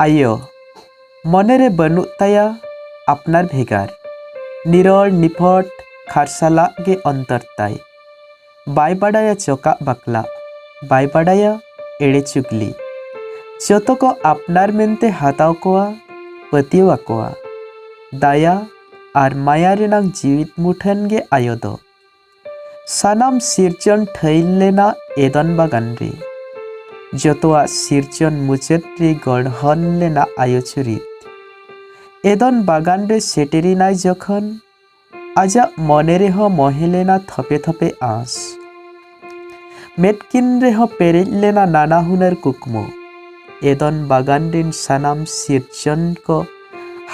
ᱟᱭᱳ ᱢᱚᱱᱮ ᱨᱮ ᱵᱟᱹᱱᱩᱜ ᱛᱟᱭᱟ ᱟᱯᱱᱟᱨ ᱵᱷᱮᱜᱟᱨ ᱱᱤᱨᱚᱲ ᱱᱤᱯᱷᱚᱴ ᱠᱷᱟᱨᱥᱟᱞᱟᱜ ᱜᱮ ᱚᱱᱛᱚᱨ ᱛᱟᱭ ᱵᱟᱭ ᱵᱟᱰᱟᱭᱟ ᱪᱚᱠᱟᱜ ᱵᱟᱠᱞᱟ ᱵᱟᱭ ᱵᱟᱰᱟᱭᱟ ᱮᱲᱮ ᱪᱩᱜᱽᱞᱤ ᱡᱚᱛᱚ ᱠᱚ ᱟᱯᱱᱟᱨ ᱢᱮᱱᱛᱮ ᱦᱟᱛᱟᱣ ᱠᱚᱣᱟ ᱯᱟᱹᱛᱭᱟᱹᱣ ᱟᱠᱚᱣᱟ ᱫᱟᱭᱟ ᱟᱨ ᱢᱟᱭᱟ ᱨᱮᱱᱟᱝ ᱡᱤᱣᱤᱫ ᱢᱩᱴᱷᱟᱹᱱ ᱜᱮ ᱟᱭᱳ ᱫᱚ ᱥᱟᱱᱟᱢ ᱥᱤᱨᱡᱚᱱ ᱴᱷᱟᱹᱭ ᱞᱮᱱᱟ ᱮᱫᱚᱱ ᱵᱟᱜᱟᱱ ᱨᱮ ᱡᱚᱛᱚᱣᱟᱜ ᱥᱤᱨᱡᱚᱱ ᱢᱩᱪᱟᱹᱫ ᱨᱮ ᱜᱚᱲᱦᱚᱱ ᱞᱮᱱᱟ ᱟᱭᱳ ᱪᱩᱨᱤᱛ ᱮᱫᱚᱱ ᱵᱟᱜᱟᱱ ᱨᱮ ᱥᱮᱴᱮᱨᱮᱱᱟᱭ ᱡᱚᱠᱷᱚᱱ ᱟᱡᱟᱜ ᱢᱚᱱᱮ ᱨᱮᱦᱚᱸ ᱢᱚᱦᱮ ᱞᱮᱱᱟ ᱛᱷᱚᱯᱮ ᱛᱷᱚᱯᱮ ᱟᱸᱥ ᱢᱮᱫᱠᱤᱱ ᱨᱮᱦᱚᱸ ᱯᱮᱨᱮᱡ ᱞᱮᱱᱟ ᱱᱟᱱᱟ ᱦᱩᱱᱟᱹᱨ ᱠᱩᱠᱢᱩ ᱮᱫᱚᱱ ᱵᱟᱜᱟᱱ ᱨᱤᱱ ᱥᱟᱱᱟᱢ ᱥᱤᱨᱡᱚᱱ ᱠᱚ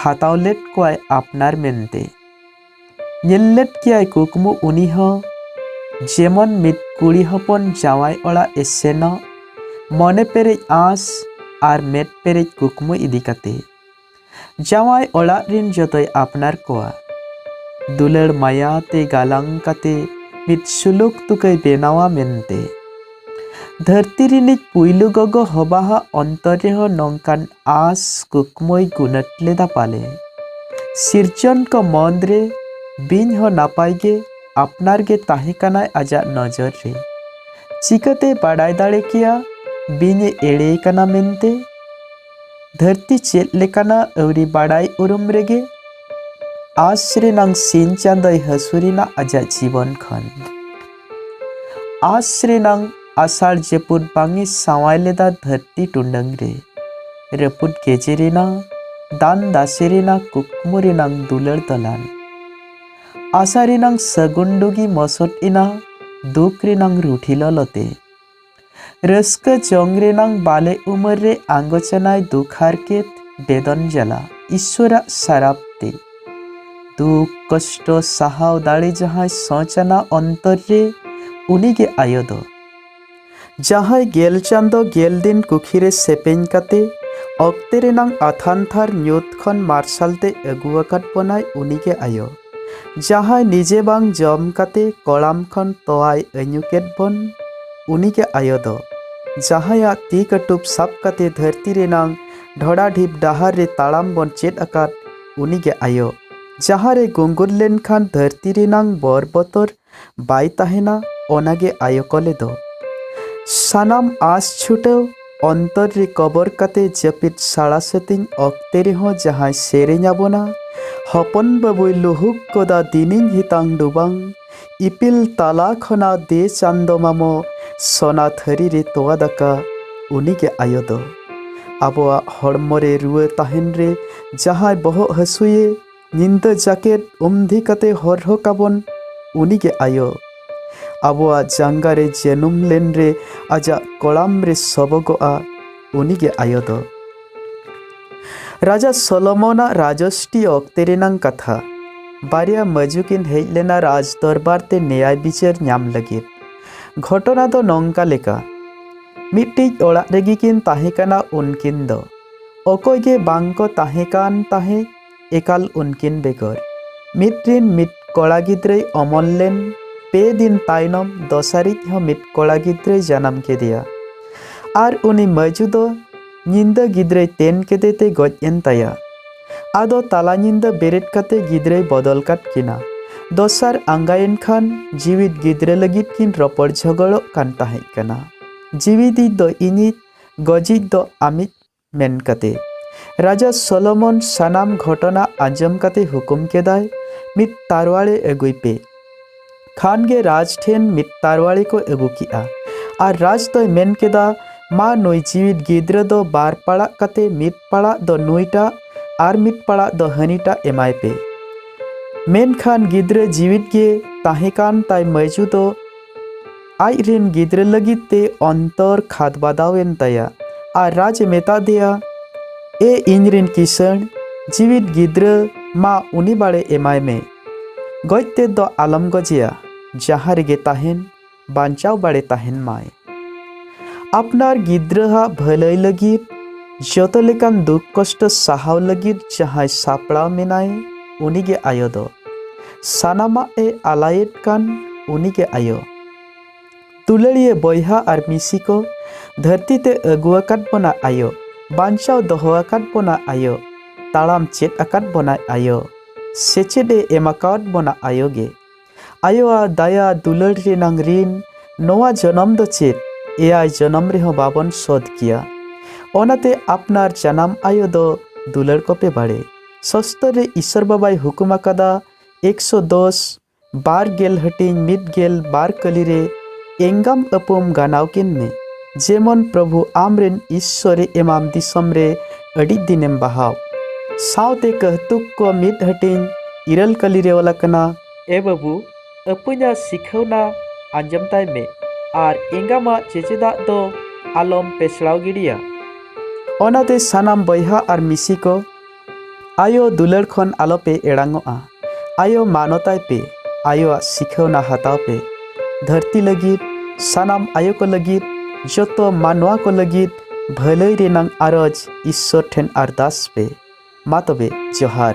ᱦᱟᱛᱟᱣ ᱞᱮᱫ ᱠᱚᱣᱟᱭ ᱟᱯᱱᱟᱨ ᱢᱮᱱᱛᱮ ᱧᱮᱞ ᱞᱮᱫ ᱠᱮᱭᱟᱭ ᱠᱩᱠᱢᱩ ᱩᱱᱤ ᱦᱚᱸ ᱡᱮᱢᱚᱱ ᱢᱤᱫ ᱠᱩᱲᱤ ᱦᱚᱯᱚᱱ ᱡᱟᱶᱟᱭ ᱚᱲᱟᱜ ᱮ ᱥᱮᱱᱚᱜ ᱢᱚᱱᱮ ᱯᱮᱨᱮᱡ ᱟᱸᱥ ᱟᱨ ᱢᱮᱫ ᱯᱮᱨᱮᱡ ᱠᱩᱠᱢᱩ ᱤᱫᱤ ᱠᱟᱛᱮ ᱡᱟᱶᱟᱭ ᱚᱲᱟᱜ ᱨᱤᱱ ᱡᱚᱛᱚᱭ ᱟᱯᱱᱟᱨ ᱠᱚᱣᱟ ᱫᱩᱞᱟᱹᱲ ᱢᱟᱭᱟ ᱛᱮ ᱜᱟᱞᱟᱝ ᱠᱟᱛᱮ ᱢᱤᱫ ᱥᱩᱞᱩᱠ ᱛᱩᱠᱟᱹᱭ ᱵᱮᱱᱟᱣᱟ ᱢᱮᱱᱛᱮ ᱫᱷᱟᱹᱨᱛᱤ ᱨᱤᱱᱤᱡ ᱯᱩᱭᱞᱩ ᱜᱚᱜᱚ ᱦᱚᱵᱟᱦᱟᱜ ᱚᱱᱛᱚᱨ ᱨᱮᱦᱚᱸ ᱱᱚᱝᱠᱟᱱ ᱟᱥ ᱠᱩᱠᱢᱩᱭ ᱜᱩᱱᱟᱹᱴ ᱞᱮᱫᱟ ᱯᱟᱞᱮ ᱥᱤᱨᱡᱚᱱ ᱠᱚ ᱢᱚᱱ ᱨᱮ ᱵᱤᱧ ᱦᱚᱸ ᱱᱟᱯᱟᱭ ᱜᱮ ᱟᱯᱱᱟᱨ ᱜᱮ ᱛᱟᱦᱮᱸ ᱠᱟᱱᱟᱭ ᱟᱡᱟᱜ ᱱᱚᱡᱚᱨ ᱨᱮ ᱪᱤᱠᱟᱹᱛᱮ ᱵᱟᱰᱟᱭ ᱫᱟᱲᱮ ᱠᱮᱭᱟ ᱵᱤᱧ ᱮ ᱮᱲᱮ ᱠᱟᱱᱟ ᱢᱮᱱᱛᱮ ᱫᱷᱟᱹᱨᱛᱤ ᱪᱮᱫ ᱞᱮᱠᱟᱱᱟ ᱟᱹᱣᱨᱤ ᱵᱟᱰᱟᱭ ᱩᱨᱩᱢ ᱨᱮᱜᱮ ᱟᱥ ᱨᱮᱱᱟᱝ ᱥᱤᱧ ᱪᱟᱸᱫᱚᱭ ᱦᱟᱹᱥᱩᱨᱮᱱᱟ ᱟᱡᱟᱜ ᱡᱤᱵᱚᱱ ᱠᱷᱚᱱ ᱟᱥ ᱨᱮᱱᱟᱝ ᱟᱥᱟᱲ ᱡᱟᱹᱯᱩᱫ ᱵᱟᱝ ᱮ ᱥᱟᱶᱟᱭ ᱞᱮᱫᱟ ᱫᱷᱟᱹᱨᱛᱤ ᱴᱩᱰᱟᱹᱝ ᱨᱮ ᱨᱟᱹᱯᱩᱫ ᱜᱮᱡᱮ ᱨᱮᱱᱟᱝ ᱫᱟᱱ ᱫᱟᱥᱮ ᱨᱮᱱᱟᱝ ᱠᱩᱠᱢᱩ ᱨᱮᱱᱟᱝ ᱫᱩᱞᱟᱹᱲ ᱫᱚᱞᱟᱱ ᱟᱥᱟ ᱨᱮᱱᱟᱝ ᱥᱟᱹᱜᱩᱱ ᱰᱩᱜᱤ ᱢᱚᱥᱚᱫ ᱮᱱᱟ ᱫᱩᱠ ᱨᱮᱱᱟᱝ ᱨᱩᱴᱷᱤ ᱞᱚᱞᱚᱛᱮ ᱨᱟᱹᱥᱠᱟᱹ ᱡᱚᱝ ᱨᱮᱱᱟᱝ ᱵᱟᱞᱮ ᱩᱢᱟᱹᱨ ᱨᱮ ᱟᱸᱜᱚᱪᱟᱱᱟᱭ ᱫᱩᱠ ᱦᱟᱨᱠᱮᱛ ᱵᱮᱫᱚᱱ ᱡᱟᱞᱟ ᱤᱥᱣᱚᱨᱟᱜ ᱥᱟᱨᱟᱯ ᱛᱮ ᱫᱩᱠ ᱠᱚᱥᱴᱚ ᱥᱟᱦᱟᱣ ᱫᱟᱲᱮ ᱡᱟᱦᱟᱸᱭ ᱥᱚᱪᱟᱱᱟ ᱚᱱᱛᱚᱨ ᱨᱮ ᱩᱱᱤᱜᱮ ᱟᱭᱳ ᱫᱚ ᱡᱟᱦᱟᱸᱭ ᱜᱮᱞ ᱪᱟᱸᱫᱚ ᱜᱮᱞ ᱫᱤᱱ ᱠᱩᱠᱷᱤ ᱨᱮ ᱥᱮᱯᱮᱧ ᱠᱟᱛᱮ ᱚᱠᱛᱮ ᱨᱮᱱᱟᱝ ᱟᱛᱷᱟᱱ ᱛᱷᱟᱨ ᱧᱩᱛ ᱠᱷᱚᱱ ᱢᱟᱨᱥᱟᱞ ᱛᱮ ᱟᱹᱜᱩ ᱟᱠᱟᱫ ᱵᱚᱱᱟᱭ ᱩᱱᱤᱜᱮ ᱟᱭᱳ ᱡᱟᱦᱟᱸᱭ ᱱᱤᱡᱮ ᱵᱟᱝ ᱡᱚᱢ ᱠᱟᱛᱮ ᱠᱚᱲᱟᱢ ᱠᱷᱚᱱ ᱛᱚᱣᱟᱭ ᱟᱹᱧᱩ ᱠᱮᱫ ᱵᱚᱱ ᱩᱱᱤᱜᱮ ᱟᱭᱳ ᱫᱚ ᱡᱟᱦᱟᱸᱭᱟᱜ ᱛᱤ ᱠᱟᱹᱴᱩᱵ ᱥᱟᱵ ᱠᱟᱛᱮ ᱫᱷᱟᱹᱨᱛᱤ ᱨᱮᱱᱟᱝ ᱰᱷᱚᱲᱟ ᱰᱷᱤᱯ ᱰᱟᱦᱟᱨ ᱨᱮ ᱛᱟᱲᱟᱢ ᱵᱚᱱ ᱪᱮᱫ ᱟᱠᱟᱫ ᱩᱱᱤᱜᱮ ᱟᱭᱳ ᱡᱟᱦᱟᱸ ᱨᱮ ᱜᱩᱝᱜᱩᱨ ᱞᱮᱱᱠᱷᱟᱱ ᱫᱷᱟᱹᱨᱛᱤ ᱨᱮᱱᱟᱝ ᱵᱚᱨ ᱵᱚᱛᱚᱨ ᱵᱟᱭ ᱛᱟᱦᱮᱱᱟ ᱚᱱᱟᱜᱮ ᱟᱭᱳ ᱠᱚᱞᱮ ᱫᱚ ᱥᱟᱱᱟᱢ ᱟᱥ ᱪᱷᱩᱴᱟᱹᱣ ᱚᱱᱛᱚᱨ ᱨᱮ ᱠᱚᱵᱚᱨ ᱠᱟᱛᱮ ᱡᱟᱹᱯᱤᱫ ᱥᱟᱲᱟ ᱥᱟᱹᱛᱤᱧ ᱚᱠᱛᱮ ᱨᱮᱦᱚᱸ ᱡᱟᱦᱟᱸᱭ ᱥᱮᱨᱮᱧ ᱟᱵᱚᱱᱟ ᱦᱚᱯᱚᱱ ᱵᱟᱹᱵᱩᱭ ᱞᱩᱦᱩᱠ ᱜᱚᱫᱟ ᱫᱤᱱᱤᱧ ᱦᱤᱛᱟᱝ ᱰᱩᱵᱟᱝ ᱤᱯᱤᱞ ᱛᱟᱞᱟ ᱠᱷᱚᱱᱟᱜ ᱫᱮ ᱪᱟᱸᱫᱚ ᱢᱟᱢᱚ ᱥᱚᱱᱟ ᱛᱷᱟᱹᱨᱤ ᱨᱮ ᱛᱚᱣᱟ ᱫᱟᱠᱟ ᱩᱱᱤᱜᱮ ᱟᱭᱳ ᱫᱚ ᱟᱵᱚᱣᱟᱜ ᱦᱚᱲᱢᱚ ᱨᱮ ᱨᱩᱣᱟᱹ ᱛᱟᱦᱮᱱ ᱨᱮ ᱡᱟᱦᱟᱸᱭ ᱵᱚᱦᱚᱜ ᱦᱟᱹᱥᱩᱭᱮ ᱧᱤᱫᱟᱹ ᱡᱟᱠᱮᱴ ᱩᱢᱫᱷᱤ ᱠᱟᱛᱮ ᱦᱚᱨᱦᱚ ᱠᱟᱵᱚᱱ ᱩᱱᱤᱜᱮ ᱟᱭᱳ ᱟᱵᱚᱣᱟᱜ ᱡᱟᱸᱜᱟ ᱨᱮ ᱡᱟᱹᱱᱩᱢ ᱞᱮᱱ ᱨᱮ ᱟᱡᱟᱜ ᱠᱚᱲᱟᱢ ᱨᱮ ᱥᱚᱵᱚᱜᱚᱜᱼᱟ ᱩᱱᱤᱜᱮ ᱟᱭᱳ ᱫᱚ ᱨᱟᱡᱟ ᱥᱚᱞᱚᱢᱚᱱᱟᱜ ᱨᱟᱡᱚᱥᱴᱤ ᱚᱠᱛᱮ ᱨᱮᱱᱟᱝ ᱠᱟᱛᱷᱟ ᱵᱟᱨᱭᱟ ᱢᱟᱹᱡᱩ ᱠᱤᱱ ᱦᱮᱡ ᱞᱮᱱᱟ ᱨᱟᱡᱽ ᱫᱚᱨᱵᱟᱨ ᱛᱮ ᱱᱮᱭᱟᱭ ᱵᱤᱪᱟᱹᱨ ᱧᱟᱢ ᱞᱟᱹᱜᱤᱫ ᱜᱷᱚᱴᱚᱱᱟ ᱫᱚ ᱱᱚᱝᱠᱟ ᱞᱮᱠᱟ ᱢᱤᱫᱴᱤᱡ ᱚᱲᱟᱜ ᱨᱮᱜᱮ ᱠᱤᱱ ᱛᱟᱦᱮᱸ ᱠᱟᱱᱟ ᱩᱱᱠᱤᱱ ᱫᱚ ᱚᱠᱚᱭ ᱜᱮ ᱵᱟᱝ ᱠᱚ ᱛᱟᱦᱮᱸ ᱠᱟᱱ ᱛᱟᱦᱮᱸ ᱮᱠᱟᱞ ᱩᱱᱠᱤᱱ ᱵᱮᱜᱚᱨ ᱢᱤᱫ ᱨᱤᱱ ᱢᱤᱫ ᱠᱚᱲᱟ ᱜᱤᱫᱽᱨᱟᱹᱭ ᱚᱢᱚᱱ ᱞᱮᱱ ᱯᱮ ᱫᱤᱱ ᱛᱟᱭᱱᱚᱢ ᱫᱚᱥᱟᱨᱤᱡ ᱦᱚᱸ ᱢᱤᱫ ᱠᱚᱲᱟ ᱜᱤᱫᱽᱨᱟᱹᱭ ᱡᱟᱱᱟᱢ ᱠᱮᱫᱮᱭᱟ ᱟᱨ ᱩᱱᱤ ᱢᱟᱹᱡᱩ ᱫᱚ ᱧᱤᱫᱟᱹ ᱜᱤᱫᱽᱨᱟᱹᱭ ᱛᱮᱱ ᱠᱮᱫᱮ ᱛᱮ ᱜᱚᱡ ᱮᱱ ᱛᱟᱭᱟ ᱟᱫᱚ ᱛᱟᱞᱟ ᱧᱤᱫᱟᱹ ᱵᱮᱨᱮᱫ ᱠᱟᱛᱮ ᱜᱤᱫᱽᱨᱟᱹᱭ ᱵᱚᱫᱚᱞ ᱠᱟᱫ ᱠᱤᱱᱟ ᱫᱚᱥᱟᱨ ᱟᱸᱜᱟᱭᱮᱱ ᱠᱷᱟᱱ ᱡᱤᱣᱤᱫ ᱜᱤᱫᱽᱨᱟᱹ ᱞᱟᱹᱜᱤᱫ ᱠᱤᱱ ᱨᱚᱯᱚᱲ ᱡᱷᱚᱜᱚᱲᱚᱜ ᱠᱟᱱ ᱛᱟᱦᱮᱸ ᱠᱟᱱᱟ ᱡᱤᱣᱤᱫᱤᱡ ᱫᱚ ᱤᱧᱤᱡ ᱜᱚᱡᱤᱡ ᱫᱚ ᱟᱢᱤᱡ ᱢᱮᱱ ᱠᱟᱛᱮ ᱨᱟᱡᱟ ᱥᱚᱞᱚᱢᱚᱱ ᱥᱟᱱᱟᱢ ᱜᱷᱚᱴᱚᱱᱟ ᱟᱸᱡᱚᱢ ᱠᱟᱛᱮ ᱦᱩᱠᱩᱢ ᱠᱮᱫᱟᱭ ᱢᱤᱫ ᱛᱟᱨᱣᱟᱲᱮ ᱟᱹᱜᱩᱭ ᱯᱮ ᱠᱷᱟᱱ ᱜᱮ ᱨᱟᱡᱽ ᱴᱷᱮᱱ ᱢᱤᱫ ᱛᱟᱨᱣᱟᱲᱮ ᱠᱚ ᱟᱹᱜᱩ ᱠᱮᱜᱼᱟ ᱟᱨ ᱨᱟᱡᱽ ᱫᱚᱭ ᱢᱮᱱ ᱠᱮᱫᱟ ᱢᱟ ᱱᱩᱭ ᱡᱤᱣᱤᱫ ᱜᱤᱫᱽᱨᱟᱹ ᱫᱚ ᱵᱟᱨ ᱯᱟᱲᱟᱜ ᱠᱟᱛᱮ ᱢᱤᱫ ᱯᱟᱲᱟᱜ ᱫᱚ ᱱᱩᱭᱴᱟᱜ ᱟᱨ ᱢᱤᱫ ᱯᱟᱲᱟᱜ ᱫᱚ ᱦᱟᱹᱱᱤᱴᱟᱜ ᱮᱢᱟᱭ ᱯᱮ ᱢᱮᱱᱠᱷᱟᱱ ᱜᱤᱫᱽᱨᱟᱹ ᱡᱤᱣᱤᱫ ᱜᱮ ᱛᱟᱦᱮᱸ ᱠᱟᱱ ᱛᱟᱭ ᱢᱟᱹᱭᱡᱩ ᱫᱚ ᱟᱡ ᱨᱮᱱ ᱜᱤᱫᱽᱨᱟᱹ ᱞᱟᱹᱜᱤᱫ ᱛᱮ ᱚᱱᱛᱚᱨ ᱠᱷᱟᱫᱽ ᱵᱟᱫᱟᱣ ᱮᱱ ᱛᱟᱭᱟ ᱟᱨ ᱨᱟᱡᱽ ᱮ ᱢᱮᱛᱟ ᱫᱮᱭᱟ ᱮ ᱤᱧ ᱨᱮᱱ ᱠᱤᱥᱟᱹᱬ ᱡᱤᱣᱤᱫ ᱜᱤᱫᱽᱨᱟᱹ ᱢᱟ ᱩᱱᱤ ᱵᱟᱲᱮ ᱮᱢᱟᱭ ᱢᱮ ᱜᱚᱡ ᱛᱮ ᱫᱚ ᱟᱞᱚᱢ ᱜᱚᱡᱮᱭᱟ ᱡᱟᱦᱟᱸ ᱨᱮᱜᱮ ᱛᱟᱦᱮᱱ ᱵᱟᱧᱪᱟᱣ ᱵᱟᱲᱮ ᱛᱟᱦᱮᱱ ᱢᱟᱭ ᱟᱯᱱᱟᱨ ᱜᱤᱫᱽᱨᱟᱹᱣᱟᱜ ᱵᱷᱟᱹᱞᱟᱹᱭ ᱞᱟᱹᱜᱤᱫ ᱡᱚᱛᱚ ᱞᱮᱠᱟᱱ ᱫᱩᱠ ᱠᱚᱥᱴᱚ ᱥᱟᱦᱟᱣ ᱞᱟᱹᱜᱤᱫ ᱡᱟᱦᱟᱸᱭ ᱥᱟᱯᱲᱟᱣ ᱢᱮᱱᱟᱭ ᱩᱱᱤᱜᱮ ᱟᱭᱳ ᱫᱚ ᱥᱟᱱᱟᱢᱟᱜ ᱮ ᱟᱞᱟᱭᱮᱫ ᱠᱟᱱ ᱩᱱᱤᱜᱮ ᱟᱭᱳ ᱛᱩᱞᱟᱹᱲᱤᱭᱟᱹ ᱵᱚᱭᱦᱟ ᱟᱨ ᱢᱤᱥᱤ ᱠᱚ ᱫᱷᱟᱹᱨᱛᱤ ᱛᱮ ᱟᱹᱜᱩ ᱟᱠᱟᱫ ᱵᱚᱱᱟ ᱟᱭᱳ ᱵᱟᱧᱪᱟᱣ ᱫᱚᱦᱚ ᱟᱠᱟᱫ ᱵᱚᱱᱟ ᱟᱭᱳ ᱛᱟᱲᱟᱢ ᱪᱮᱫ ᱟᱠᱟᱫ ᱵᱚᱱᱟᱭ ᱟᱭᱳ ᱥᱮᱪᱮᱫ ᱮ ᱮᱢ ᱟᱠᱟᱫ ᱵᱚᱱᱟ ᱟᱭᱳ ᱜᱮ ᱟᱭᱳᱣᱟᱜ ᱫᱟᱭᱟ ᱫᱩᱞᱟᱹᱲ ᱨᱮᱱᱟᱝ ᱨᱤᱱ ᱱᱚᱣᱟ ᱡᱚᱱᱚᱢ ᱫᱚ ᱪᱮᱫ ᱮᱭᱟᱭ ᱡᱚᱱᱚᱢ ᱨᱮᱦᱚᱸ ᱵᱟᱵᱚᱱ ᱥᱚᱫ ᱠᱮᱭᱟ ᱚᱱᱟᱛᱮ ᱟᱯᱱᱟᱨ ᱡᱟᱱᱟᱢ ᱟᱭᱳ ᱫᱚ ᱫᱩᱞᱟᱹᱲ ᱠᱚᱯᱮ ᱵᱟᱲᱮ ᱥᱚᱥᱛᱚᱨ ᱨᱮ ᱤᱥᱚᱨ ᱵᱟᱵᱟᱭ ᱦᱩᱠᱩᱢ ᱟᱠᱟᱫᱟ ᱮᱠᱥᱚ ᱫᱚᱥ ᱵᱟᱨ ᱜᱮᱞ ᱦᱟᱹᱴᱤᱧ ᱢᱤᱫ ᱜᱮᱞ ᱵᱟᱨ ᱠᱟᱹᱞᱤ ᱨᱮ ᱮᱝᱜᱟᱢ ᱟᱹᱯᱩᱢ ᱜᱟᱱᱟᱣ ᱠᱤᱱ ᱢᱮ ᱡᱮᱢᱚᱱ ᱯᱨᱚᱵᱷᱩ ᱟᱢ ᱨᱮᱱ ᱤᱥᱚᱨᱮ ᱮᱢᱟᱢ ᱫᱤᱥᱚᱢ ᱨᱮ ᱟᱹᱰᱤ ᱫᱤᱱᱮᱢ ᱵᱟᱦᱟᱣ ᱥᱟᱶᱛᱮ ᱠᱟᱹᱦᱛᱩᱠ ᱠᱚ ᱢᱤᱫ ᱦᱟᱹᱴᱤᱧ ᱤᱨᱟᱹᱞ ᱠᱟᱹᱞᱤ ᱨᱮ ᱚᱞ ᱟᱠᱟᱱᱟ ᱮ ᱵᱟᱹᱵᱩ ᱟᱹᱯᱟᱹᱧᱟ ᱥᱤᱠᱷᱟᱹᱣᱱᱟ ᱟᱸᱡᱚᱢ ᱛᱟᱭ ᱢᱮ ᱟᱨ ᱮᱸᱜᱟᱢᱟᱜ ᱪᱮᱪᱮᱫᱟᱜ ᱫᱚ ᱟᱞᱚᱢ ᱯᱮᱥᱲᱟᱣ ᱜᱤᱰᱤᱭᱟ ᱚᱱᱟᱛᱮ ᱥᱟᱱᱟᱢ ᱵᱚᱭᱦᱟ ᱟᱨ ᱢᱤᱥᱤ ᱠᱚ ᱟᱭᱳ ᱫᱩᱞᱟᱹᱲ ᱠᱷᱚᱱ ᱟᱞᱚᱯᱮ ᱮᱲᱟᱝᱚᱜᱼᱟ ᱟᱭᱳ ᱢᱟᱱᱚᱛᱟᱭ ᱯᱮ ᱟᱭᱳᱣᱟᱜ ᱥᱤᱠᱷᱟᱹᱣᱱᱟ ᱦᱟᱛᱟᱣ ᱯᱮ ᱫᱷᱟᱹᱨᱛᱤ ᱞᱟᱹᱜᱤᱫ ᱥᱟᱱᱟᱢ ᱟᱭᱳ ᱠᱚ ᱞᱟᱹᱜᱤᱫ ᱡᱚᱛᱚ ᱢᱟᱱᱣᱟ ᱠᱚ ᱞᱟᱹᱜᱤᱫ ᱵᱷᱟᱹᱞᱟᱹᱭ ᱨᱮᱱᱟᱝ ᱟᱨᱚᱡᱽ ᱤᱥᱥᱚᱨ ᱴᱷᱮᱱ ᱟᱨᱫᱟᱥ ᱯᱮ ᱢᱟ ᱛᱚᱵᱮ ᱡᱚᱦᱟᱨ